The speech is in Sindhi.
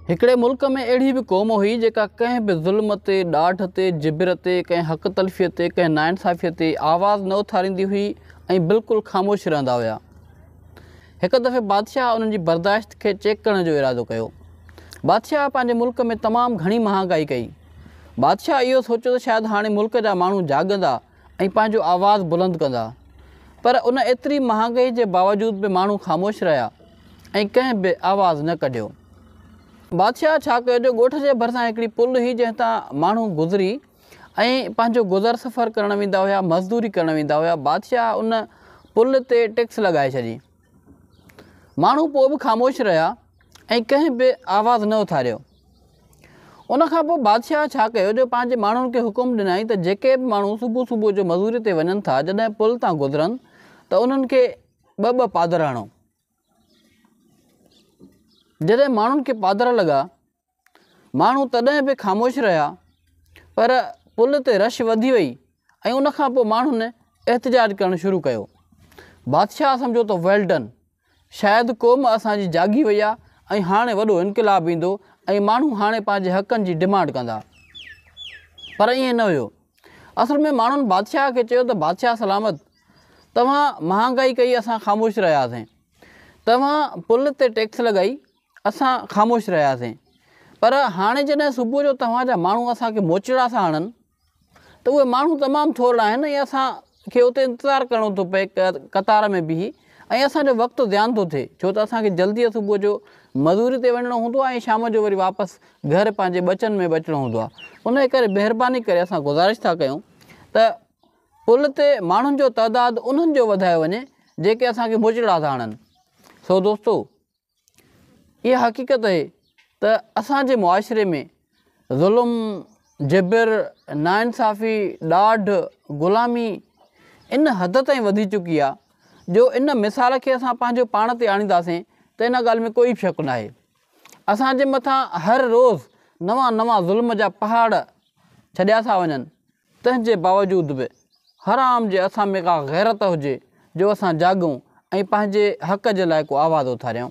هڪڙي ملڪ ۾ اهڙي به قوم هئي جيڪا ڪنهن به ظلم تي، ڏاڍ تي، جبر تي، ڪنهن حق تلفيء تي، ڪنهن ناانصافيء تي آواز نه اٿاريندي هئي ۽ بلڪل خاموش رهندا هيا. هڪ دفعي بادشاهه انهن جي برداشت کي چيڪ ڪرڻ جو ارادو ڪيو. بادشاهه پنهنجي ملڪ ۾ تمام گهڻي مهانگائي ڪئي. بادشاهه اهو سوچيو ته شايد هاڻي ملڪ جا ماڻهو جاڳندا ۽ ۽ پنهنجو آواز بلند ڪندا پر ان ايتري مهانگئي جي باوجود به ماڻهو خاموش رهيا ۽ ڪنهن به آواز نه ڪڍيو. بادشاهه ڇا ڪيو جو ڳوٺ جي ڀرسان هڪڙي پل هئي جنهن تان ماڻهو گذري ۽ پنهنجو گذر سفر ڪرڻ ويندا هيا مزدوري ڪرڻ ويندا هيا بادشاهه ان پل تي ٽيڪس لڳائي ڇڏي ماڻهو پوء به خاموش رهيا. ۽ ڪنهن به آواز نه اٿاريو. ان کان پوء بادشاهه ڇا ڪيو جو پنهنجي ماڻهن کي حڪم ڏنائين ته جيڪي به ماڻهو صبح صبح جو مزوري تي وڃن ٿا جڏهن پل تان گذرن ته انهن کي ٻه ٻه پادر هڻو. جڏهن ماڻهن کي پادر لڳا. ماڻهو تڏهن به خاموش رهيا پر پل تي رش وڌي وئي ۽ ان کان پوء ماڻهن احتجاج ڪرڻ شروع ڪيو. بادشاهه سمجهيو ته ويل ڊن! شايد قوم اسان جي جاڳي وئي آ ۽ هاڻي وڏو انقلاب ايندو ۽ ماڻهو هاڻي پنهنجي حقن جي ڊمانڊ ڪندا. پر ائين نه هيو. اصل ۾ ماڻهن بادشاهه کي چيو ته بادشاهه سلامت! توهان مهانگائي ڪئي اسان خاموش رهياسين. توهان پل تي ٽيڪس لڳائي اسان خاموش رهياسين پر هاڻي جڏهن صبح جو توهان جا ماڻهو اسان کي موچڙا ٿا هڻن ته اهي ماڻهو تمام ٿورڙا آهن ۽ اسان کي اتي انتظار ڪرڻو ٿو پئي قطار ۾ بيهي ۽ اسان جو وقت ضيان ٿو ٿئي ڇو ته اسان کي جلدي صبح جو مزوري تي وڃڻو هوندو آهي ۽ شام جو وري واپس گهر پنهنجي ٻچن ۾ به اچڻو هوندو آهي انهي ڪري مهرباني ڪري اسان گذارش ٿا ڪيون ته پل تي ماڻهن جو تعداد انهن جو وڌايو وڃي جيڪي اسان کي موچڙا ٿا هڻن سو دوستو اها حقيقت اهي ته اسان جي معاشري ۾ ظلم، جبر، ناانصافي، ڏاڍ، غلامي ان حد تائين وڌي چڪي آهي جو ان مثال کي اسان پنهنجو پاڻ تي آڻينداسين ته ان ڳالهه ۾ ڪوئي شڪ ناهي اسان جي مٿان هر روز نوان نوان ظلم جا پهاڙ ڇڏيا ٿا وڃن تنهن جي باوجود به هر عام جي اسان ۾ ڪا غيرت هجي جو اسان جاڳون ۽ پنهنجي حق جي لاء ڪو آواز اٿاريون.